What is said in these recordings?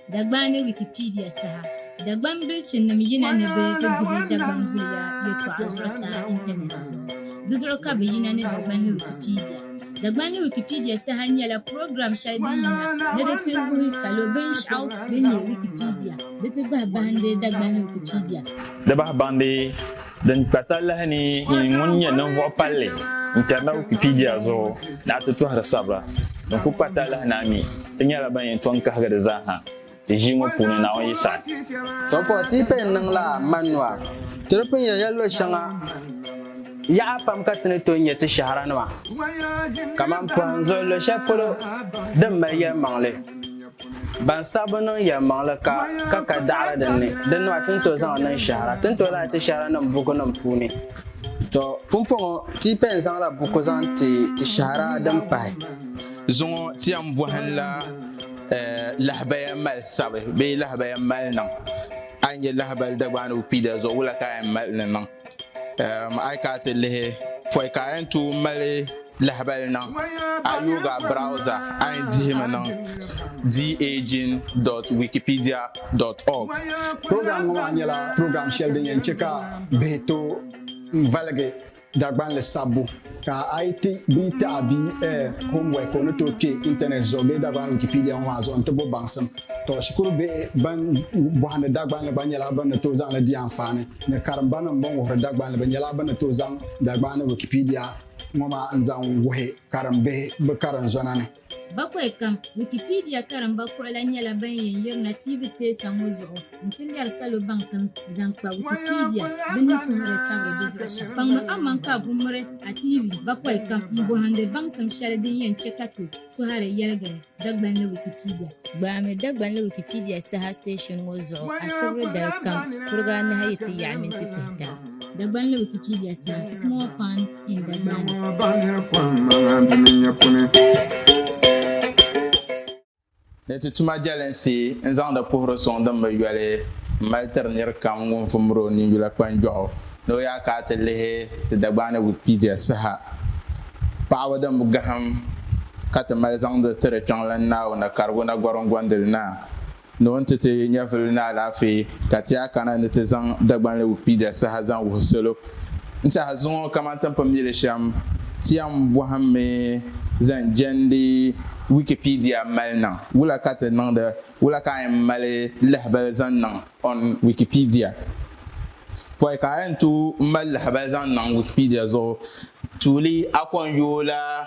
Dagban ni Wikipedia saha Dagban bilichinim yina ni bɛ ti duhi Dagban zuliya yɛtɔɣa zuɣusaa intanɛti zuɣu. Di zuɣu ka bɛ yina ni Dagban ni Wikipedia. Dagban ni Wikipedia saha nyɛla program shɛli din yina ni di ti wuhi salo binshɛɣu din nyɛ Wikipedia di ti bahi bahindi Dagban ni Wikipedia. Di bahi bahindi. Din kpa talahi ni yi ŋun nyɛ ninvuɣ palli n-kari na Wikipedia zuɣu ni a ti tɔhiri sabira din kul kpa talahi ni a mi ti nyɛla ban yɛn tɔŋ kahigi di zaa ha ti ʒii ŋɔ puuni, Naawuni yi saɣi. Tɔbuɣu ti yi paya n-niŋ la Manua, ti di pun yɛn ya luɣ shɛŋa yaɣa pam ka ti ni tooi nya ti shɛhira nima kaman pɔhim zuɣu luɣ shɛli polo din mali yɛlimaŋli. Ban saɣi bi niŋ yɛlimaŋli ka ka ka daɣiri din ni, din nɔhi ti ni tooi zaŋ niŋ shɛhira, ti ni tooi lahi ti shɛhiranim bukunim puuni. Tɔ! Pumpɔŋɔ, ti yi pɛn zaŋla buku zaŋ ti ti shɛhira din pahi. Zuŋɔ ti yɛn bɔhinla lahabaya mali sabi bee lahabaya mali niŋ. A yi nya lahabali Dagbaani Wikipedia zuɣu, wula ka a yɛn mali ni niŋ? A yi kana ti lihi pɔi ka a yɛn tooi mali lahabali niŋ a yooga browza a yɛn dihimi niŋ daging.wikipedia.org program ŋɔ maa nyɛla program shɛli din yɛn chɛ ka bihi tooi valigi Dagbanli sabbu Ka a yi ti bia taɣi bia eh, homework, o ni tooi kpe Internet zuɣu bee Dagbani Wikipedia ŋɔ maa zuɣu nti bo baŋsim. Tɔ, shikuru bihi ban bɔhindi Dagbanli gba nyɛla bɛ ni tooi zaŋ li di anfaani, ni karimbanim bɛn wuhiri Dagbanli bɛ nyɛla bɛ ni tooi zaŋ Dagbani Wikipedia ŋɔ maa n-zaŋ wuhi karimbihi bɛ karinzɔna ni. Bakwai kam, Wikipedia karimba kuɣila nyɛla ban yɛn yirina tiivi teesa ŋɔ zuɣu nti lɛri salo baŋsim zaŋ kpa Wikipedia bɛ ni tuhiri sabiri di zuɣu shɛm. Kpaŋmi aman ka a ku miri a tiivi bakwai kam m-bɔhindi baŋsim shɛli din yɛn chɛ ka ti tɔhiri yɛligiri Dagbanli Wikipedia. Gbaami Dagbanli Wikipedia saha station ŋɔ zuɣu asibiri dali kam kuriga anahi yi ti yaɣi minti pihita. Dagbanli Wikipedia saha, Small Fund. Ni ti tuma jɛlinsi n-zaŋdi puhiri suŋ din bi yoli m-mali tiri nir kam ŋun vumir o ninyula kpanjɔɣu ni o yaa ka a ti lihi ti Dagbani ni Wikipedia saha. Paɣibu din bi gahim ka ti mali zaŋdi tiri Kpiɔŋlan Naawuni karigu na gɔriŋgondili na. Ni o ni ti ti nyɛvili ni alaafee, ka ti a kana ni ti zaŋ Dagbanli Wikipedia saha zaŋ wuhi salo. N tɛha zuŋɔ kaman ti ni pun mi li shɛm, ti yɛn bɔhimmi zaŋ jɛndi Wikipedia mali niŋ wula ka ti niŋdi wula ka a yɛn mali lahibali zaŋ niŋ on Wikipedia. Pɔi ka a yɛn tooi mali lahibali zaŋ niŋ Wikipedia zuɣu, tuuli a kɔŋ yooi la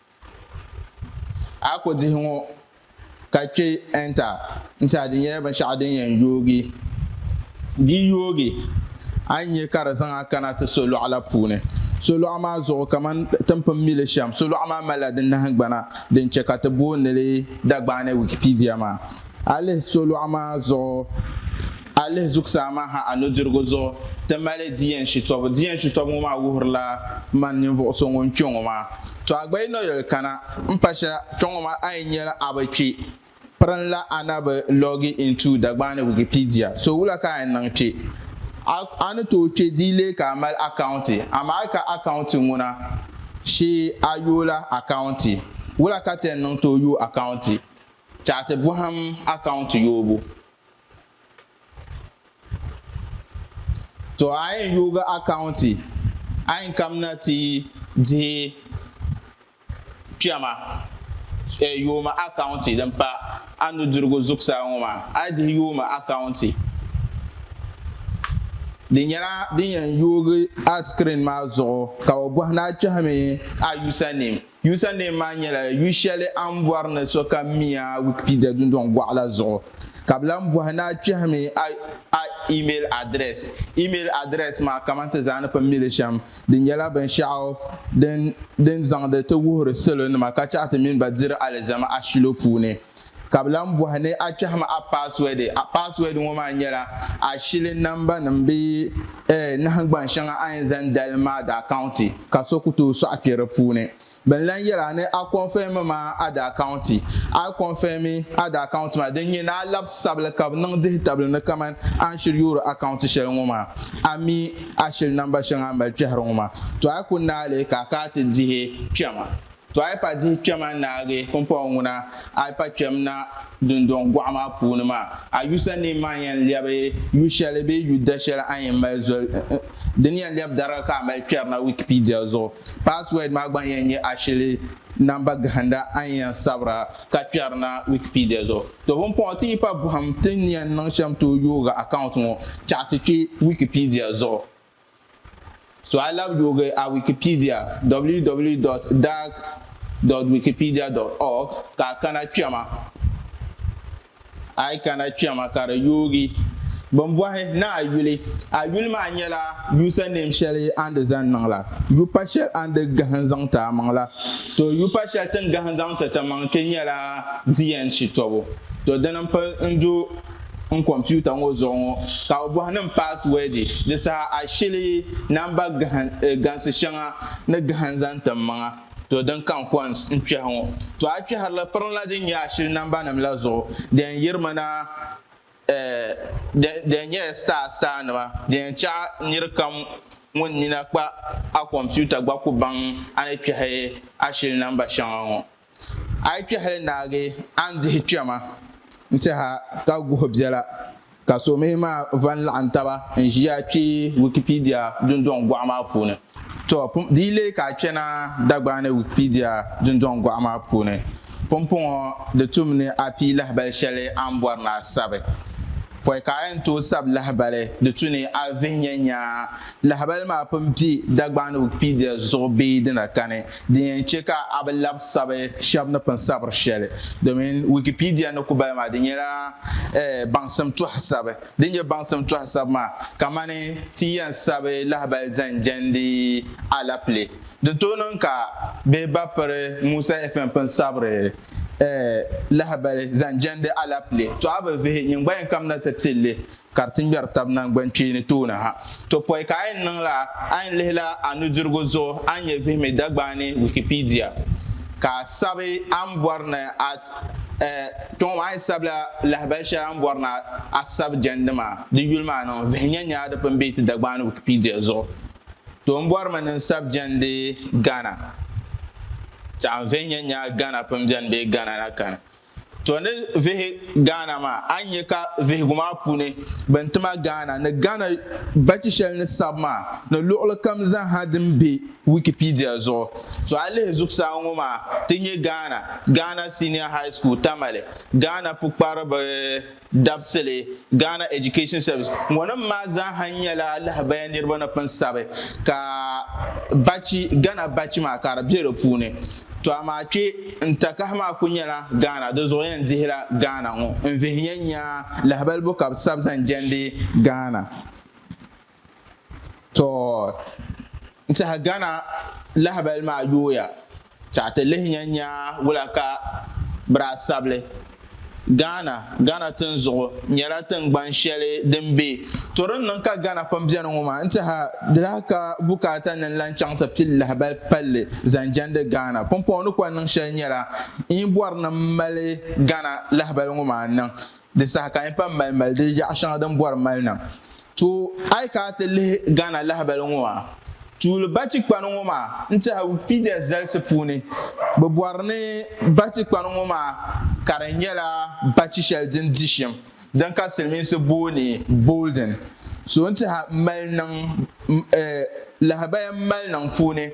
A ko dihi ŋɔ ka kpe enter n-ti a di nyɛla binshɛɣu din yɛn yoogi di yoogi a ni nya ka di zaŋ a kana ti solɔɣu la puuni solɔɣu maa zuɣu kamani ti ni pun mi li shɛm solɔɣu maa malila di nahingbana din chɛ ka ti booni li Dagbani Wikipedia maa a lihi solɔɣu maa zuɣu A lihi zuɣusaa maa ha a nudirigu zuɣu, ti mali di yɛn shitɔbu. Di yɛn shitɔbu ŋɔ maa wuhirila man ninvuɣ so ŋun kpe ŋɔ maa. Tɔ! A gba yi nɔyoli kana m pa shɛl kpe ŋɔ maa, a yi nyɛl a bi kpi, pirinla a na bi log into Dagbaani Wikipedia. So wula ka a yɛn niŋ kpe? A a ni tooi kpe di yi leei ka a mali akaunti. Amaa a ka akaunti ŋuna, shee a yoola akaunti. Wula ka ti yɛn niŋ tooi yooi akaunti? Chaati bɔhim akaunti yoobu. to a yɛn yoogi akaunti a yɛn kamina ti dihi kpɛma eh, yooma akaunti din pa a nudirigu zuɣusaa ŋɔ maa a yi dihi yooma akaunti di nyɛla din yɛn yoogi a screen maa zuɣu ka o bɔhi ni a kpɛhimi a username Username maa nyɛla yu shɛli a ni bɔri ni sokam mi a Wikipedia dundɔŋ gɔɣu la zuɣu, ka bɛ lan bɔhi ni a kpɛhimi a a email address. Email address maa kaman ti zaa ni pun mi li shɛm, di nyɛla binshɛɣu din din zaŋdi ti wuhiri salonima ka chahi ti mini ba diri alizama ashilo puuni. Ka bɛ lan bɔhi ni a kpɛhim a paaswɛdi. A paaswɛdi ŋɔ maa nyɛla a shili nambanima bee ɛɛh nahingbaŋ shɛŋa a ni zaŋ dalim maa daa kaunti ka so ku tooi sɔɣi kpe di puuni. Bɛ ni lan yɛl a ni a kɔnfɛmi maa a daa kaunti. A yi kɔnfɛmi a daa kaunti maa, din nyɛ ni a lab sabili ka bɛ niŋ dihitabili ni kaman a ni shiri yoori a kaunti shɛli ŋɔ maa a mi a shili namba shɛŋa a ni mali kpɛhiri ŋɔ maa, tɔ a yi ku naai li ka a kana ti dihi kpɛma. To a yi pa dihi kpɛma n-naagi pumpɔŋɔ ŋuna, a yi pa kpɛm na dundɔŋ gɔɣu maa puuni maa, a yusa ni maa yɛn lɛbi yu shɛli bee yu da shɛli a yɛn mali zoli di ni yɛn lɛbi dariga ka a mali kpɛri na Wikipedia zuɣu Password maa gba yɛn nyɛ ashili namba gahinda a ni yɛn sabira ka kpɛri na Wikipedia zuɣu To pumpɔŋɔ ti yi pa buɣim ti ni yɛn niŋ shɛm tooi yoogi account ŋɔ chaɣi ti kpe Wikipedia zuɣu Suɣilab yoogi a Wikipedia, www.dag.wikipedia.org ka a kana kpɛma a yi kana kpɛma ka di yoogi bimbɔhi ni a yuli. A yuli maa nyɛla username shɛli a ni di zani niŋ la, yupa shɛli a ni di gahin zaŋ ti a maŋ la. To yupa shɛli ti ni gahin zaŋ ti ti maŋ kpe nyɛla di yɛn shitɔbu. To dini m-pun n-do n kompiuta ŋɔ zuɣu ŋɔ ka o bɔhi nim paasiwɛdi di saha a shili yi namba gansi shɛŋa ni gahin zaŋ tim maŋa to din kan kɔns n kpɛhi ŋɔ to a kpɛhiri li piri la din nyɛ a shili namba nim la zuɣu di yɛn yirimi na di yɛn nyɛla star star nima di yɛn chaɣi niri kam ŋun nina kpa a kompiuta gba ku baŋ a ni kpɛhi a shili namba shɛŋa ŋɔ. A yi kpɛhili naagi a ni dihi kpɛma n-tɛha ka guhi biɛla ka somihi maa va n-laɣim taba n-ʒiya kpe Wikipedia dundɔŋ gɔɣu maa puuni. Tɔ, di yi leei ka a kpɛna Dagbaani Wikipedia dundɔŋ gɔɣu maa puuni, pumpɔŋɔ di tum ni a pii lahibali shɛli a ni bɔri ni a sabi. Pɔi ka a yɛn tooi sabi lahibali, di tu ni a vihi nyɛnyaa lahibali maa pun be Dagbaani Wikipedia zuɣu bee di na kani. Din yɛn chɛ ka a bi labi sabi shɛb ni pun sabiri shɛli, domin Wikipedia ni ku bali maa, di nyɛla baŋsim tɔhi sabi. Din nyɛ baŋsim tɔhi sabi maa kamani ti yɛn sabi lahibali zaŋ jɛndi alapile. Di tooi niŋ ka bɛ ba piri Musa FM pun sabiri lahibali zaŋ jɛndi alapile. Tɔ a bi vihi nyingbayini kam na ti ti li ka di ti ŋmɛri tab naŋgbankpeeni tooni ha. To pɔi ka a yɛn niŋ la, a yɛn lihi la a nudirigu zuɣu a ni nyɛ vihimi Dagbaani Wikipedia, ka a sabi a ni bɔri ni a eh, kpe ŋɔ maa a yɛn sabila lahabali shɛli a ni bɔri ni a sabi jɛndi maa di yuli maa niŋ vihi nyɛ ni a di pun be ti Dagbaani Wikipedia zuɣu. To n bɔri mi ni n sabi jɛndi Ghana, ka n vihi nyɛ ni a Ghana pun beni bee Ghana na kani. To ni vihi Ghana maa a ni nya ka vihigu maa puuni bɛn ti ma Ghana ni Ghana bachi shɛli ni sabi maa ni luɣili kam zaha din be Wikipedia zuɣu. To a lihi zuɣusaa ŋɔ maa ti nya Ghana, Ghana Senior High School, Tamale, Ghana pukpariba. dabisili, Ghana Education Service. Ŋɔnim maa zaaha nyɛla lahabaya niriba ni pun sabi ka bachi, Ghana bachi maa ka di be di puuni. To amaa kpe n-takahi maa ku nyɛla Ghana, di zuɣu yɛn dihila Ghana ŋɔ n-vihi nya nya lahabalibo ka bɛ sabi zaŋ jɛndi Ghana. to n tiɛhi gana lahabali maa yooya ka ti lihi nya nya wula ka biraasabili Ghana Ghana tinzuɣu nyɛla tingbani shɛli din be to din niŋ ka Ghana pam beni ŋɔ maa n tiɛha di lahi ka bukaata ni n lan chaŋ ti pili lahabali palli zaŋ jɛndi Ghana pumpɔŋɔ ni kɔŋ niŋ shɛli nyɛla n yi bɔri ni m mali Ghana lahabali ŋɔ maa niŋ Di saha ka n pam mali mali di yaɣa shɛŋa din bɔri mali na. Tooi a yi kana ti lihi Ghana lahabali ŋɔ a tuuli batikpani ŋɔ maa n tɛha Wikipedia zalisi puuni bɛ bɔri ni batikpani ŋɔ maa ka di nyɛla bachi shɛli din di shim din ka silimiinsi booni Bolden so n tɛha mali niŋ eh lahabaya mali niŋ puuni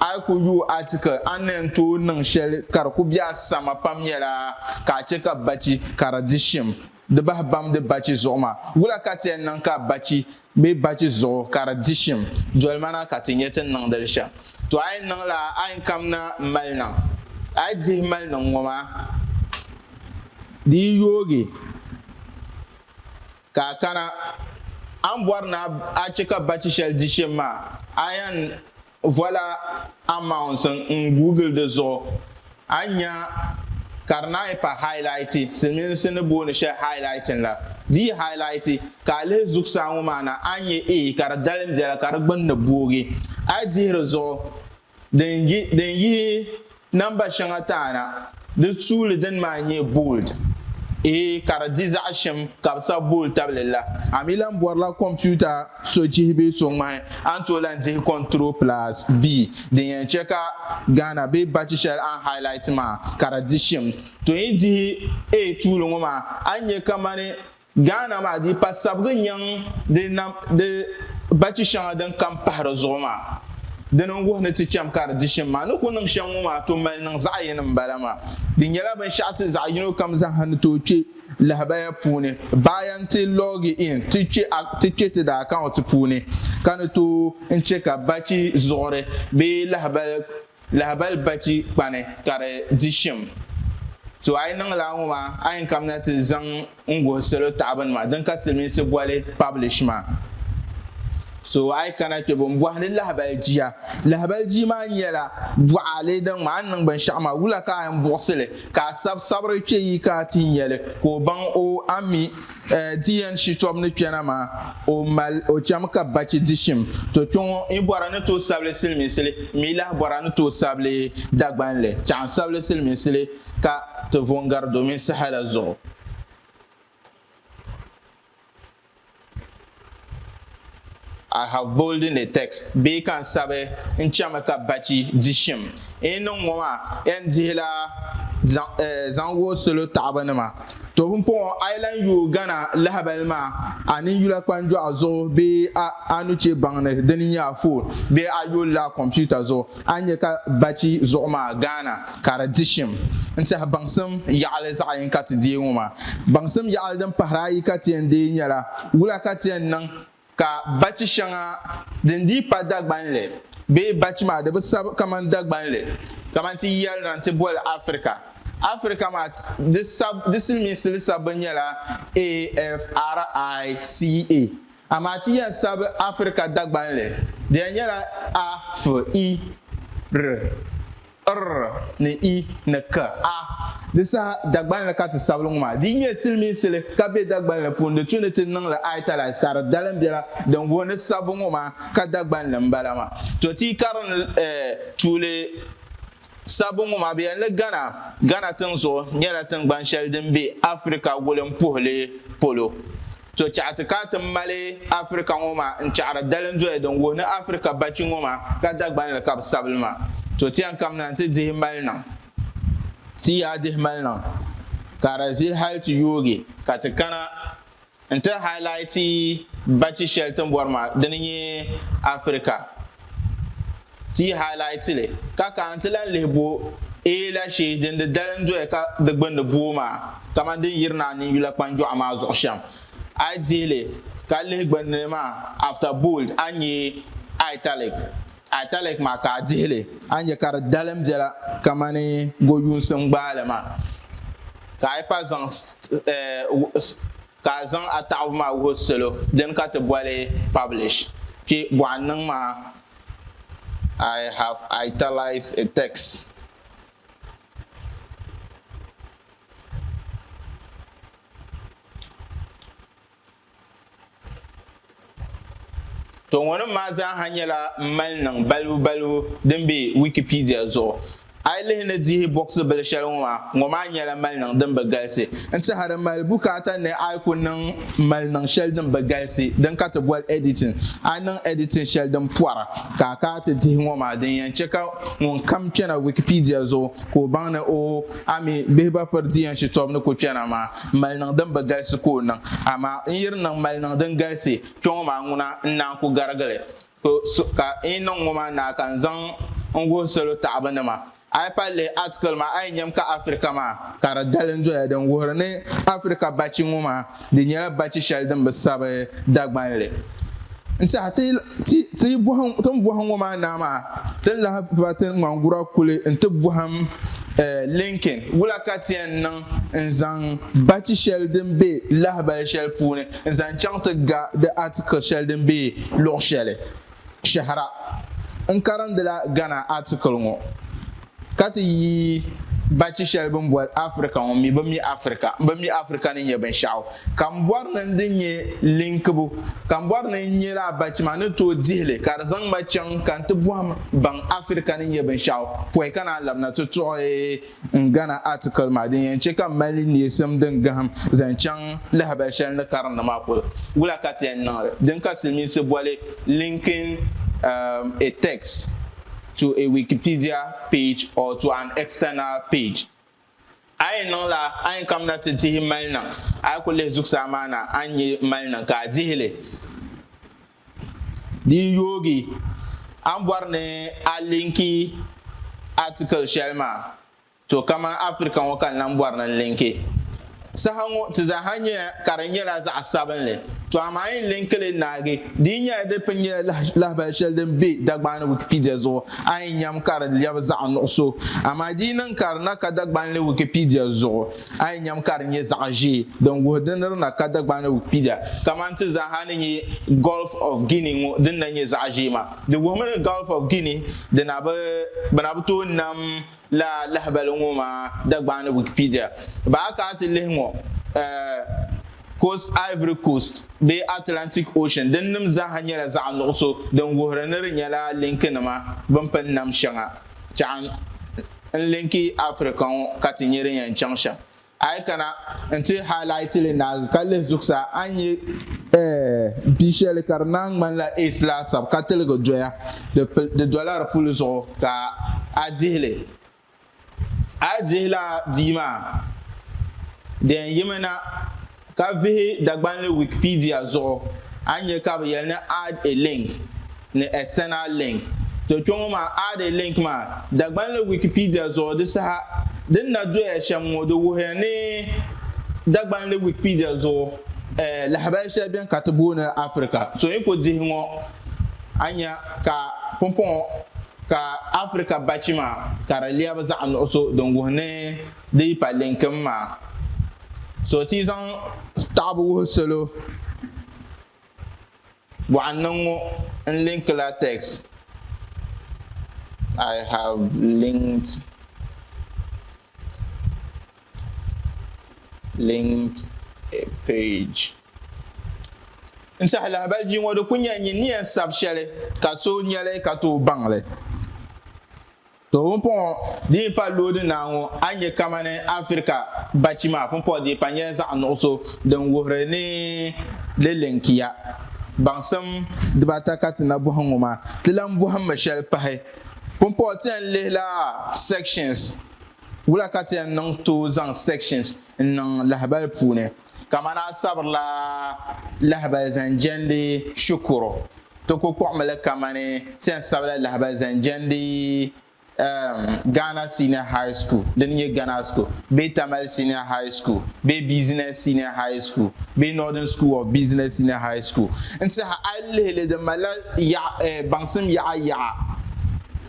A yi ku yuui atikil a ni yɛn tooi niŋ shɛli ka di ku be a sama pam nyɛla ka a chɛ ka bachi ka di di shim di bahi bamdi bachi zuɣu maa. Wula ka ti yɛn niŋ ka bachi bee bachi zuɣu ka di di shim? Dolimana ka ti nya ti ni niŋdi li shɛm. Tɔ! A yi niŋla a ni kamina m-mali niŋ, a yi dihi mali niŋ ŋɔ maa, di yi yoogi ka a kana, a ni bɔri ni a chɛ ka bachi shɛli di shim maa, a yɛn Voila amounts n google di zuɣu a ni nya ka di naanyi pa highlight, silimiinsi ni booni shɛli highlighting la. Di yi highlight ka a lihi zuɣusaa ŋɔ maa na a ni nya A ka di dalim biɛla ka di gbunni boogi. A yi dihi di zuɣu din yihi. Namba shɛŋa taana, di suuli dini maa nyɛ bold, ee ka di di zaɣ shɛm ka bi sabi bold tabili la. A mi lan bɔrila kompiuta so chihi bee so ŋmahi, a ni tooi lan dihi Control plus B din yɛn chɛ ka Ghana bee bachi shɛli a ni highlight maa ka di di shɛm. Tɔ yi dihi A tuuli ŋɔ maa, a ni nya kamani Ghana maa di pa sabigi n-nyaŋ di nam di bachi shɛŋa din kam pahi di zuɣu maa. Dini n-wuhi ni ti cham ka di dichim maa ni ku niŋ shɛm ŋɔ maa tooi mali niŋ zaɣ yini m-bala maa. Di nyɛla binshɛɣu ti zaɣ yino kam zaaha ni tooi kpe lahabaya puuni baaya nti loogi in ti kpe ti kpe ti daakaunti puuni ka ni tooi n-chɛ ka bachi zuɣuri bee lahibal Lahabali bachi kpani ka di di shim. To a yi niŋ lala ŋɔ maa a yɛn kamina ti zaŋ n guhi salo taɣibu nima din ka silimiinsi boli publish maa. So a yi kana kpe bo n bɔhindi lahabali jia. Lahabali jii maa nyɛla buɣaale din ŋma a ni niŋ binshɛɣu maa wula ka a yɛn buɣisili ka a sabi sabiri kpe yi ka a ti nyeli ka o baŋ o a mi Ti yɛn shitɔbu ni kpɛna maa, o mal o cham ka bachi di shim. To kpe ŋɔ yi bɔra ni tooi sabili silimiinsili, m mi lahi bɔra ni tooi sabili Dagbanli. Chɛɣu n sabili silimiinsili ka ti vo n gari domin saha la zuɣu. I have bolded a text bee ka n sabi n chami ka bachi di shim. N yi niŋ ŋɔ maa yɛn dihila zaŋ wuhi salo taɣiba nima. Tobumpɔŋɔ a yi lan yooi gana lahibali maa a ninyula kpanjɔɣu zuɣu bee a nuchebaŋ ni di ni nyɛ a foon bee a yolila a kompiuta zuɣu A ni nya ka bachi zuɣu maa Ghana ka di di shim n-tɛhi baŋsim yaɣili zaɣ yini ka ti deei ŋɔ maa. Baŋsim yaɣili din pahiri ayi ka ti yɛn deei nyɛla, wula ka ti yɛn niŋ ka bachi shɛŋa din dii pa Dagbanli bee bachi maa di bi sabi kamani Dagbanli kamani ti yɛli na nti boli Africa. Africa maa di sab di silimiinsi li sabbu nyɛla AFRICA. Amaa ti yɛn sabi Afirika Dagbanli di yɛn nyɛla a, f, i, r, r ni i ni k, a. Di saha Dagbanli ka ti sabili ŋɔ maa. Di nyɛ silimiinsi li ka be Dagbanli puuni. Di tu ni ti niŋ li italize ka di dalim biɛla din wuhi ni sabbu ŋɔ maa ka Dagbanli m-bala maa. To ti yi karim tuuli Sabbu ŋɔ maa, bɛ yɛli ni Ghana, Ghana tiŋ'zuɣu, nyɛla tiŋgbani shɛli din be Africa wulimpuhili polo. To chaɣi ti ka a ti mali Africa ŋɔ maa n-chaɣiri dalindoya din wuhi ni Africa bachi ŋɔ maa ka Dagbani li ka bɛ sabi li maa. To ti yɛn kamina nti dihi maliniŋ, ti yaa dihi maliniŋ ka di zili hali ti yoogi ka ti kana. N ti highlight bachi shɛli ti ni bɔri maa di ni nyɛ Africa. Ti yi highlight li ka ka n ti lan lihi bo A la shee din di dali n doya ka di gbunni booi maa kamani din yiri ni a niŋ yula kpanjɔɣu maa zuɣu shɛm. A yi dihi li ka lihi gbunni maa after bold a ni nya italic. Italic maa ka a dihi li a ni nya ka di dalim biɛla kamani gɔyuunsi n gbaai li maa. Ka a pa zaŋ ka a zaŋ a taɣibu maa wuhi salo dini ka ti boli publish kpi bɔɣu n niŋ maa I have italized a text. Toŋɔnim maa zaaha nyɛla mali niŋ balibu balibu din be Wikipedia zuɣu. A yi lihi ni dihi bɔɣisi bili shɛli ŋɔ maa, ŋɔ maa nyɛla mali niŋ din bi galisi. N tɛha di mali bukaata ni a yi ku niŋ mali niŋ shɛli din bi galisi din ka ti boli editing. A yi niŋ editing shɛli din pɔra ka a kaai ti dihi ŋɔ maa, din yɛn chɛ ka ŋunkam kpɛna Wikipedia zuɣu ka o baŋ ni o a mi bihi ba piri di yɛn shitɔbu ni ku kpɛna maa. Mali niŋ din bi galisi ka o niŋ, amaa n yiri niŋ mali niŋ din galisi kpe ŋɔ maa ŋuna n-naa n-ku garigi li. Ka n yi niŋ ŋɔ maa naa ka n zaŋ n wuhi salo taɣibinima. A yi pali lihi atikili maa a yi nyam ka Afirika maa, ka di dalim doya din wuhiri ni Afirika bachi ŋɔ maa di nyɛla bachi shɛli din bi sabi Dagbanli. N tehi ti Ti yi bɔhim ti ni bɔhim ŋɔ maa naa maa, ti ni lahi va ti ŋmangura kuli nti bɔhim Lincoln wula ka ti yɛn niŋ n-zaŋ bachi shɛli din be lahibali shɛli puuni n-zaŋ chaŋ ti ga di article shɛli din be luɣ shɛli. Shɛhira, N karindila Ghana article ŋɔ ka ti yi bachi shɛli bɛ ni boli Africa ŋɔ mi bɛ mi Africa bɛ mi Africa ni nyɛ binshɛɣu ka m bɔri ni n di nyɛ linkibu ka m bɔri ni n nyɛ lala bachi maa ni tooi dihi li ka di zaŋ ma chaŋ ka n ti bɔhim baŋ Africa ni nyɛ binshɛɣu pɔi ka naan labina ti tuɣi n Ghana article maa din yɛn chɛ ka m mali neesim din gahim zaŋ chaŋ lahabali shɛli ni karindi maa polo wula ka ti yɛn niŋ li din ka silimiinsi boli linking a text. to a Wikipedia page or to an external page. A yi niŋla a ni kamina ti dihi maliniŋ, a yi ku lihi zuɣusaa maa na a ni nya maliniŋ ka a dihi li. Di yi yoogi, a ni bɔri ni a linki article shɛli maa. To kamani Africa ŋɔ ka n lan bɔri ni n linki. Saha ŋɔ ti zaa ha nyɛya ka di nyɛla zaɣ sabinli. To amaa yi linki li naagi, di yi nyɛla di pun nyɛla lahabali shɛli din be Dagbani ni Wikipedia zuɣu, a yi nyam ka di lɛbi zaɣ nuɣiso. Amaa di yi niŋ ka di na ka Dagbani ni Wikipedia zuɣu, a yi nyam ka di nyɛ zaɣ ʒee, din wuhi di ni di na ka Dagbani ni Wikipedia. Kamani ti zaa ha ni nyɛ Gulf of Guinea ŋɔ din na nyɛ zaɣ ʒee maa, di wuhimi ni Gulf of Guinea di na bi, bɛ na bi tooi nam Lala lahibali ŋɔ maa Dagbani ni Wikipedia, Ba a kana ti lihi ŋɔ, Coast, Ivory Coast bee Atlantic Ocean din nim zaaha nyɛla zaɣ nuɣuso din wuhiri ni di nyɛla linki nima bini pini nam shɛŋa chaŋ n linki Afirika ŋɔ ka ti nyɛ din yɛn chaŋ shɛm. A yi kana nti highlight li naagi ka lihi zuɣusaa, a ni nya. Ɛɛh, m pii shɛli ka di naan ŋmanila eighth laasabu ka tiligi doya, di dola di puli zuɣu ka a dihi li. A yi dihi lala bia maa, di yɛn yimi na. Ka vihi Dagbanli Wikipedia zuɣu, a ni nya ka bɛ yɛli ni add a link ni external link. To kpe ŋɔ maa add a link maa, Dagbanli Wikipedia zuɣu di saha din na doya shɛm ŋɔ di wuhiya ni Dagbanli Wikipedia zuɣu lahabali shɛli beni ka ti booni li Africa. So yi ku dihi ŋɔ a nya ka pumpɔŋɔ ka Africa bachi maa ka di lɛbi zaɣ nuɣiso din wuhi ni Di yi pa linkim maa, so ti zaŋ taɣibu wuhi salo bɔɣa niŋ ŋɔ n linki la text I have linked linked a page. N saha lahabali bia ŋɔ di ku nyɛla nyin ni yɛn sabi shɛli ka so nya li ka tooi baŋ li. To pumpɔŋɔ dii pa loodi naa ŋɔ a nya kamani Afirika bachi maa pumpɔɣu dii pa nyɛla zaɣ nuɣiso din wuhiri ni di linkiya baŋsim dibaata ka ti na bɔhi ŋɔ maa. Ti lan bɔhimmi shɛli pahi pumpɔɣu ti yɛn lihi la sections wula ka ti yɛn niŋ tooi zaŋ sections n-niŋ lahibali puuni. Kamani a sabirila lahibali zaŋ jɛndi shikuru, ti ku kpuɣimi li kamani ti yɛn sabila lahibali zaŋ jɛndi um Ghana Senior High School din nyɛ Ghana School bee Tamale Senior High School bee Business Senior High School bee Northern School of Business Senior High School. N tiɛha a yi lihi li di malila yaɣ eh baŋsim yaɣa yaɣa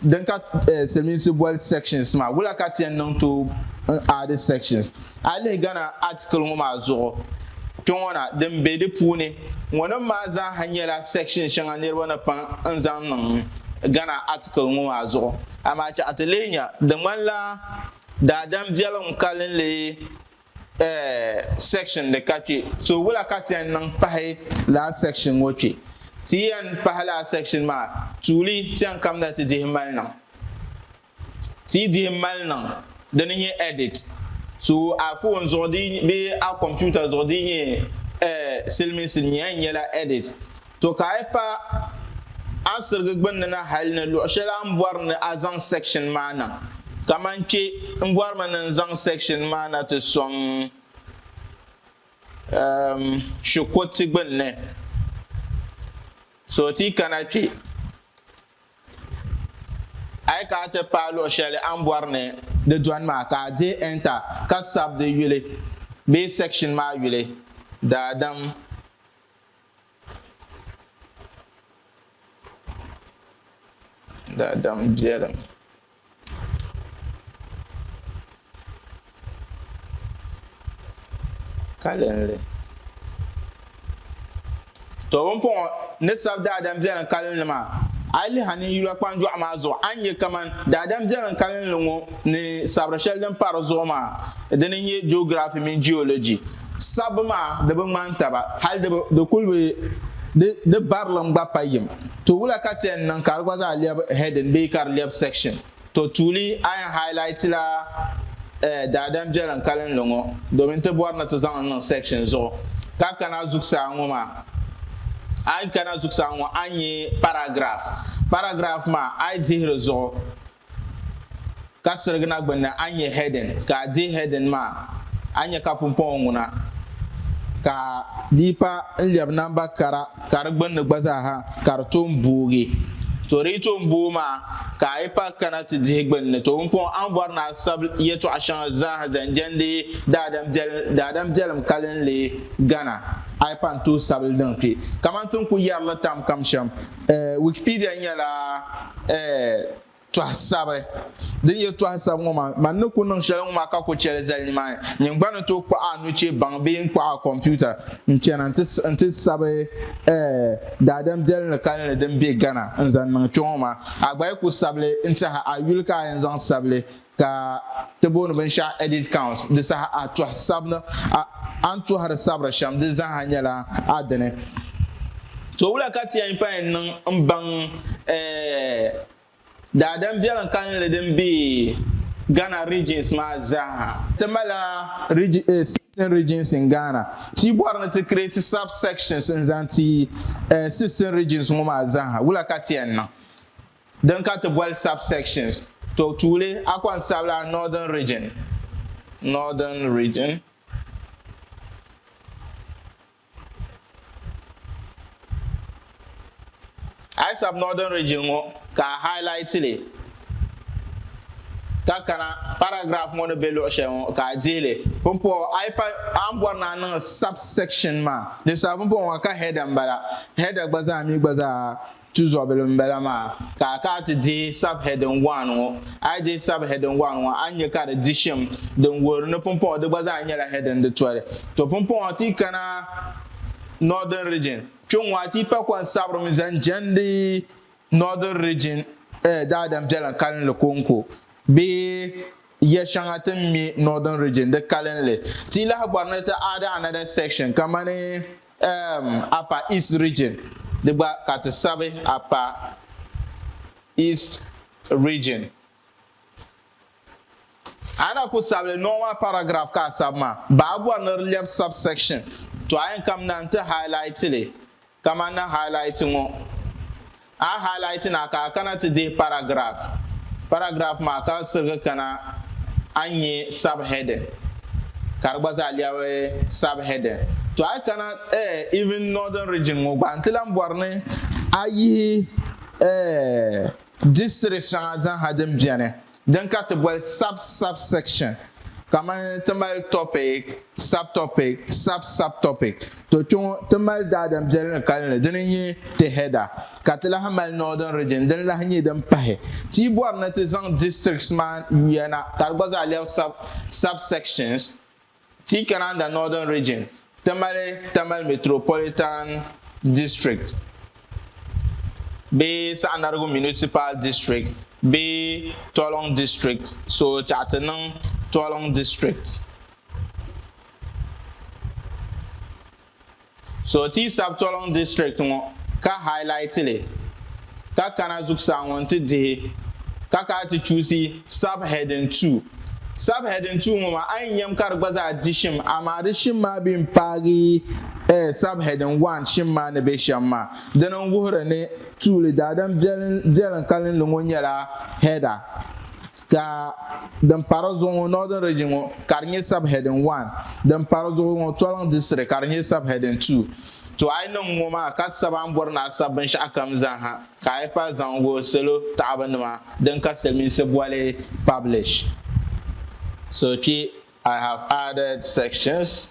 din ka eh Silimiinsi boli sections maa. Wula ka ti yɛn niŋ tooi n aadi sections A lihi Ghana article ŋɔ maa zuɣu kpe ŋɔ na din be di puuni ŋɔ nim maa zaa ha nyɛla section shɛŋa niriba ni paŋ n zaŋ niŋ Ghana article ŋɔ maa zuɣu. Amaa chɛɣu ti leei nya di ŋmani la daadam biɛliŋ kalinli eh section di ka kpe. So wula ka ti yɛn niŋ pahi lala section ŋɔ kpe? Ti yɛn pahi lala section maa tuuli ti yɛn kamina ti dihi mali niŋ. Ti yi dihi mali niŋ di ni nyɛ edit so a phone zuɣu bee a computer zuɣu di yi nyɛ eh, silimiinsi ni nyɛya nyɛla edit. To ka a yi pa a sirigi gbunni na hali ni luɣ shɛli a ni bɔri ni a zaŋ section maa na. Kamani kpe n bɔrimi ni n zaŋ section maa na ti sɔŋ ehm shikuruti gbunni. So ti yi kana kpe. A yi ka a ti paai luɣ shɛli a ni bɔri ni di dɔni maa, ka a dihi Enter ka sabi di yuli bee section maa yuli, Daadam. Daadam biɛlim. Kalinli. To bimpɔŋɔ ni sabi daadam biɛlim kalinli maa a yi lihi a ni yula kpanjɔɣu maa zuɣu a ni nyɛ kaman daadam biɛlim kalinli ŋɔ ni sabiri shɛli din pa di zuɣu maa din n nyɛ geography mini geology sabbu maa di bi ŋmani taba hali di kuli bi di barilim gba pa yim. To wula ka ti yɛn niŋ ka di gba zaa lɛbi heading bee ka di lɛbi section? To tuuli a yɛn highlightila eh daadam biɛlim kalinli ŋɔ domin ti bɔri ni ti zaŋ li niŋ section zuɣu. Ka kana zuɣusaa ŋɔ maa, a yi kana zuɣusaa ŋɔ a ni nya paragraph. Paragraph maa a yi dihiri zuɣu, ka sirigina gbunni a nya heading ka a dihi heading maa a nya ka pumpɔŋɔ ŋuna ka di pa n lɛbi namba kara ka di gbunni gba zaaha ka di tom boogi to di yi tom booi maa ka a yi pa kana ti dihi gbunni to pumpɔŋɔ a ni bɔri ni a sabi yɛtɔɣa shɛŋa zaaha zaŋ jɛndi daadam biɛlim kalinli gana a yi pa n-tooi sabili din kpe kamani ti ni ku yɛri li tam kam shɛm Wikipedia nyɛla tɔha sabi din nyɛ tɔha sabi ŋɔ maa man ni ku niŋ shɛli ŋɔ maa ka ku chɛli zali nimaani nyini gba ni tooi kpuɣi a nuchee baŋ bee n kpuɣi a komputa n chana n ti sabi daadam biɛlinli kalinli din be Ghana n zaŋ niŋ kpe ŋɔ maa a gba yi ku sabili n tɛha a yuli ka a yɛn zaŋ sabili Ka ti booni binshɛɣu edit count, di saha a tɔhi sabini, a a ni tɔhiri sabiri shɛm di zaaha nyɛla a dini. To wula ka ti yɛn pain niŋ m-baŋ eh daadam biɛlim kalinli din be Ghana regions maa zaaha? Ti malila regi eh sixteen regions in Ghana. Ti bɔri ni ti create sub-sections n-zaŋ ti eh sixteen regions ŋɔ maa zaaha, wula ka ti yɛn niŋ? Din ka ti boli subsections, to tuuli Akon Sabila Northern Region, Northern Region, A yi sabi Northern Region ŋɔ ka a highlight li ka kana paragraph ŋɔ ni be luɣi shɛli ŋɔ ka a dihi li pumpɔɣu a yi pa a ni bɔri ni a niŋ subsection maa di sabi pumpɔɣu ŋɔ ka header m-bala header gba zaa mi gba zaa Tuzɔbili m-bala maa, ka a kana ti dihi Sub-heading One ŋɔ. A yi dihi Sub-heading One ŋɔ, a ni nya ka di di shim din wuhiri ni pumpɔŋɔ di gba zaa nyɛla heading di toli. To pumpɔŋɔ ti yi kana Northern Region, kpiɔŋ a ti yi pa kɔni sabirimi zaŋ jɛndi Northern Region daadam biɛlim kalinli kɔŋko bee ya shɛŋa ti ni mi Northern Region di kalinli. Ti yi lahi bɔri ni ti add another section kamani Um, Upper East Region, di gba ka ti sabi Upper East Region. A na ku sabili nɔŋ maa paragraph ka a sabi maa, ba a bɔri ni di lɛbi subsection, to a yɛn kam na n-ti highlight li kaman na highlight ŋɔ. A highlight na ka a kana ti dihi paragraph. Paragraph maa ka sirigi kana a nya subheading ka di gba zaa lɛbi subheading. To a yi kana eh even Northern Region ŋɔ gba n-ti lan bɔri ni a yihi eh districts shɛŋa zaha din beni din ka ti boli sub-subsection Kaman ti mali topic, subtopic, sub-subtopic, to kpe ŋɔ ti mali daadam biɛli ni kalinli dini n-nyɛ ti header, ka ti lahi mali northern region dini lahi nyɛ din pahi. Ti yi bɔri ni ti zaŋ districts maa yuya na ka di gba zaa lɛbi sub-subsections, ti yi kananda northern region Tamale, Tamale Metropolitan District bee Saɣinarigu Municipal District bee Tolong District, so chaɣ ti niŋ Tolong District. So ti yi sabi Tolong District ŋɔ ka highlight li. ka kana zuɣusaa ŋɔ nti dihi ka ka a ti chuusi Sub-heading Two. Sub-heading Two ŋɔ maa a yi nyam ka di gba zaa di shim amaa di shim maa bi yɛn paagi Sub-heading One shim maa ni be shɛm maa. Dini n-wuhiri ni tuuli daadam biɛlim kalinli ŋɔ nyɛla header. Ka din pa di zuɣu ŋɔ, Northern Region ŋɔ, ka di nyɛ subheading one. Din pa di zuɣu ŋɔ, Tɔliŋ District, ka di nyɛ subheading two. To a yi niŋ ŋɔ maa ka sab a ni bɔri ni a sab binshɛɣu kam zaaha, ka a yi pahi zaŋ wuhi salo taɣibu nima din ka Silimiinsi boli publish. So kpe I have added sections.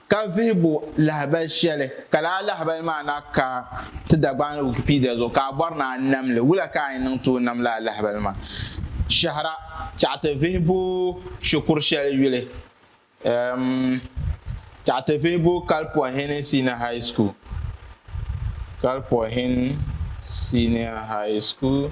Ka vihibu lahabali shɛli ka lala lahabali maa na ka ti Dagbani ni Wikipedia zuɣu ka a bɔri ni a nam li, wula ka a yi niŋ tooi nam lala lahabali maa? Shɛhira, Tɛɣu ti vihibu shikuru shɛli yuli, um Tɛɣu ti vihibu Kalpɔhini Senior High School, Kalpɔhini Senior High School.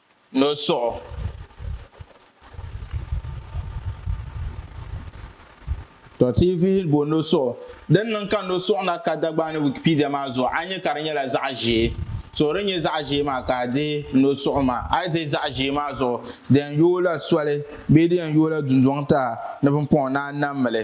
Nolsuɣu To ti yi vihili bo nolsuɣu, din niŋ ka nolsuɣu na ka Dagbaani Wikipedia maa zuɣu, a nya ka di nyɛla zaɣ ʒee. So din nyɛ zaɣ ʒee maa ka a dihi nolsuɣu maa. A yi dihi zaɣ ʒee maa zuɣu, di yɛn yooi la soli bee di yɛn yooi la dundɔŋ taha ni pumpɔŋɔ ni a nam mi li.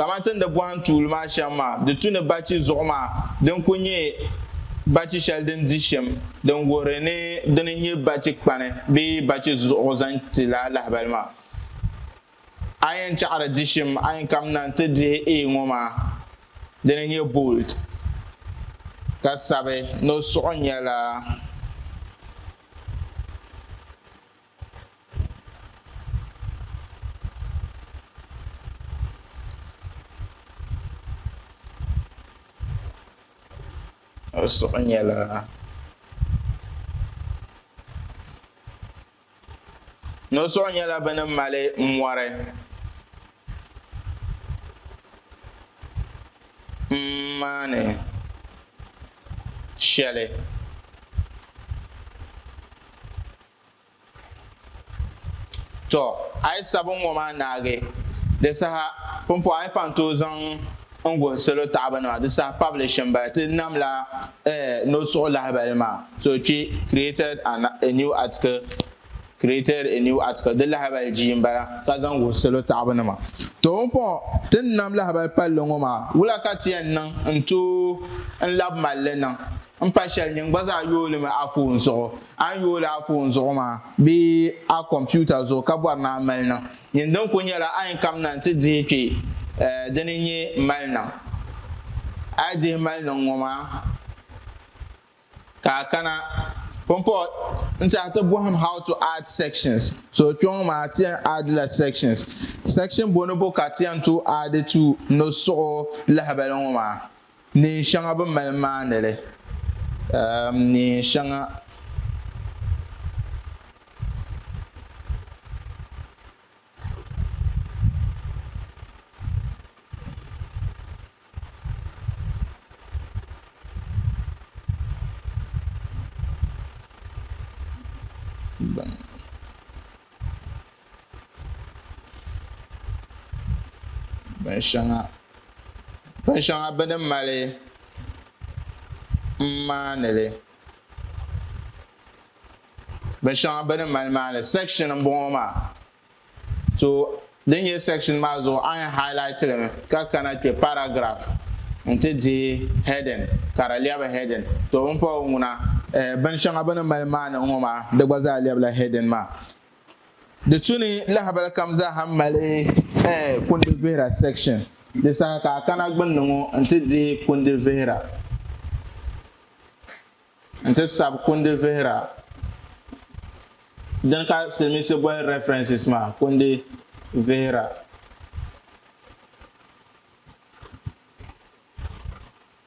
Kamani ti ni di bɔhim tuuli maa shɛm maa, di tu ni bachi zuɣu maa din kul nyɛ bachi shɛli din di shim din wuhiri ni di ni nyɛ bachi kpani bee bachi zuɣu zaŋ ti lala lahibali maa. A yɛn chaɣiri di shim a yɛn kamina nti dihi A ŋɔ maa di ni nyɛ bold ka sabi ni o suɣu nyɛla. O suhu nyɛla no suɣu nyɛla bɛ ni mali mɔri m-maani shɛli Tɔ! A yi sabi n ŋɔ maa naagi, di saha pumpɔŋɔ a ni paŋ tooi zaŋ n guhi salo taɣibunima, di saha pabili shim bala ti nam la eh no suɣu lahibali maa. So kpi created an a new article created a new article di lahibali jii n bala ka zaŋ guhi salo taɣibunima. Tɔ! Pumpɔŋɔ ti ni nam lahibali palli ŋɔ maa, wula ka ti yɛn niŋ n tooi n labi mali li niŋ? n pa shɛli nyin gba zaa yoolimi a foon zuɣu. A ni yooli a foon zuɣu maa bee a kompiuta zuɣu ka bɔri ni a mali niŋ nyin din kuli nyɛla a yɛn kamina n-ti dihi kpe dini n-nyɛ mali niŋ. A yi dihi mali niŋ ŋɔ maa ka a kana Pumport n-ti a ti bɔhim how to add sections. So kpe ŋɔ maa ti yɛn add la sections. Section bonibu ka ti yɛn tooi add tu nɔsuɣu lahibali ŋɔ maa? Neen shɛŋa bi mali maani li, neen shɛŋa bi mali maani li. binshɛŋa bɛ ni mali m-maani li binshɛŋa bɛ ni mali maani li sɛkishin m-bɔŋɔ maa to din nyɛ sɛkishin maa zuɣu a yɛn hailaiti li mi ka kana kpe paragirafu nti dihi hɛdin ka di lɛbi hɛdin to binshɛŋa bɛ ni mali maani ŋɔ maa di gba zaa lɛbila hɛdin maa Di tu ni lahabali kam zaaha mali eh, kundi vihira section. Di saha ka a kana gbunni ŋɔ nti dihi kundi vihira nti sabi kundi vihira dini ka silimiinsi boli references maa, kundi vihira.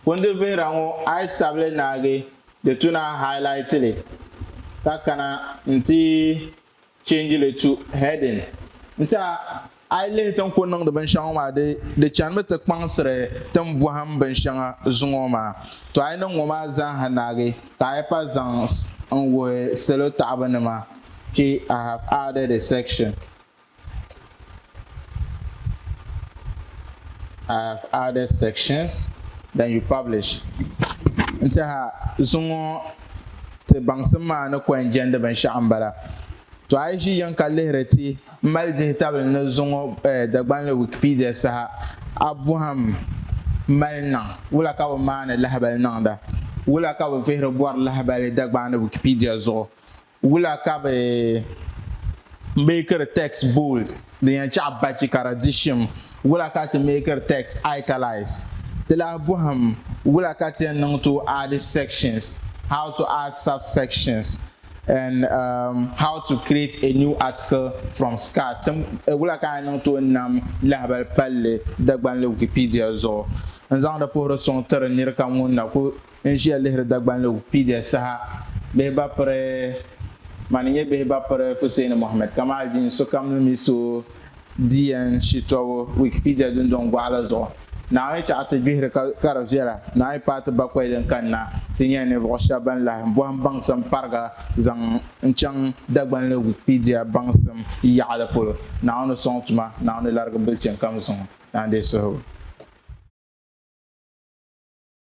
Kundi vihira ŋɔ a yi sabili naagi di tu na highlight li ka kana nti change li tu heading nti a a yi lihi tin ku niŋdi binshɛŋa ŋɔ maa di di chanimi ti kpaŋsiri tin bɔhim binshɛŋa zuŋɔ maa to a yi niŋ ŋɔ maa zaaha naagi ka a yi pa zaŋ n wuhi salo taɣibu nima kpe I have added a section I have added sections then you publish n tiɛha zuŋɔ ti baŋsim maa ni kɔŋ jɛndi binshɛɣu n bala to a yi ʒi yiŋ ka lihiri ti mali dihi tabili ni zuŋɔ eh, Dagbanli Wikipedia saha a bɔhim mali niŋ wula ka bi maani lahabali niŋda wula ka bi vihiri bɔri lahabali Dagbaani Wikipedia zuɣu Wula ka bɛ meekiri text bold din yɛn chaɣi bachi ka di di shim? Wula ka ti meekiri text italise? Ti lahi bɔhim wula ka ti yɛn niŋ ti o aadi sections, how to add subsections, and um how to create a new article from scratch. Tim wula ka a yɛn niŋ ti o nam lahabali palli Dagbanli Wikipedia zuɣu n-zaŋdi puhiri suŋ tiri nir kam ŋun na ku N ʒiya lihiri Dagbanli Wikipedia saha bihi ba piri Mani nyɛ bihi ba piri Fuseeni Mohammed Kamal Dini sokam ni mi so DN shitɔbu Wikipedia dundɔŋ gɔɣa la zuɣu Naawuni chaɣi ti gbihiri ka ka di viɛla Naawuni paai ti bakɔi din kanna ti nyɛla ninvuɣu shɛba ban lahi bɔhim baŋsim pariga zaŋ n chaŋ Dagbanli Wikipedia baŋsim yaɣili polo Naawuni sɔŋ tuma Naawuni larigi bilichini kam zuŋɔ Naawuni deei suhigu.